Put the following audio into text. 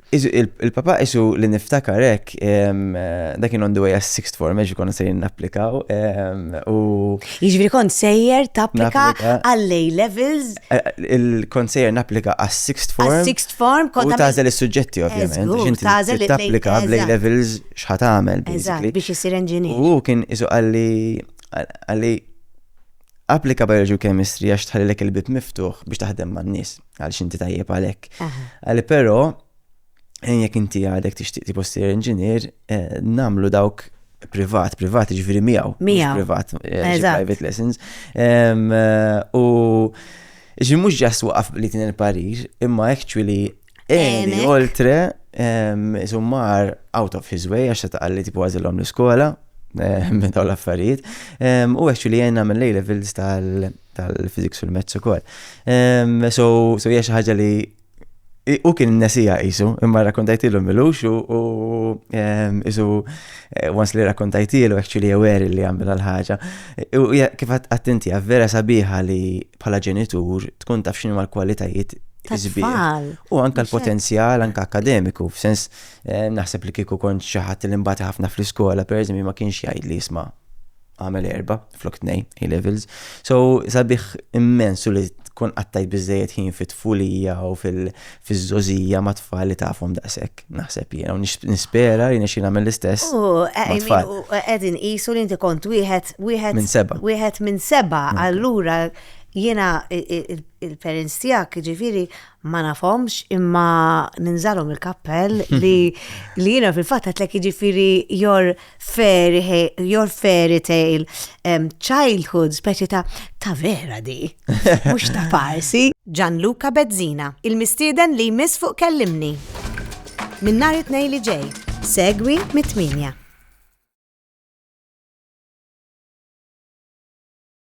Il-papa isu li niftakar hekk dak kien on the way għas sixth form għax konna sejrin napplikaw u. Jiġifieri kont sejjer tapplika għall-A levels. Eh, il-kont sejjer napplika għas sixth form. Għas sixth form kont. U tażel is-suġġetti ovvjament. Tażel tapplika bl-A levels x'ħat tagħmel. Eżatt biex isir engineer. U kien isu għalli għalli applika biology u chemistry għax tħallilek il-bib miftuħ biex taħdem man-nies. Għal xinti tajjeb għalek. Għalli pero, jek inti għadek tixtieq ti postir inġinier, eh, namlu dawk privat, privat ġviri miegħu. Miegħu. Privat, eh, private lessons. Eh, u ġi mux ġas waqaf li tin il-parir, imma actually, eni, oltre, zummar out of his way, għax ta' għalli tipu għazillom l-iskola, minn daw l-affarijiet. U actually jenna minn lej levels tal- tal-physics u l-mezz ukoll. So, so hija xi ħaġa li u kien nesija jisu, imma rakkontajtilu milux u jisu eh, once li rakkontajtilu actually aware li għamil l-ħagġa. U kif għattinti, vera sabiħa li bħala ġenitur tkun taf xinu mal-kwalitajiet Tfal. U anka l-potenzjal, anka akademiku, f'sens eh, naħseb li kiku kont xaħat l-imbata ħafna fl-iskola, per ma kienx jgħid li jisma' għamel erba flok tnej A-levels. So sabiħ immensu li tkun qattajt biżejjed ħin fit-tfulija u fil-żożija ma' tfal li tafhom daqshekk, naħseb jiena u nispera li nixi nagħmel l-istess. U qegħdin qisu li inti kont wieħed wieħed minn seba. Wieħed minn seba, allura jiena il-parents tiegħek ġifieri ma nafhomx imma ninżalhom il-kappell li li jiena fil-fatt għatlek jiġifieri your fairy your fairy tale um, childhood speċi ta' ta' vera di, mhux ta' farsi. Gianluca Bezzina, il-mistieden li jmiss fuq kellimni. Minn nhar it-tnejn li ġej, segwi mit-tminja.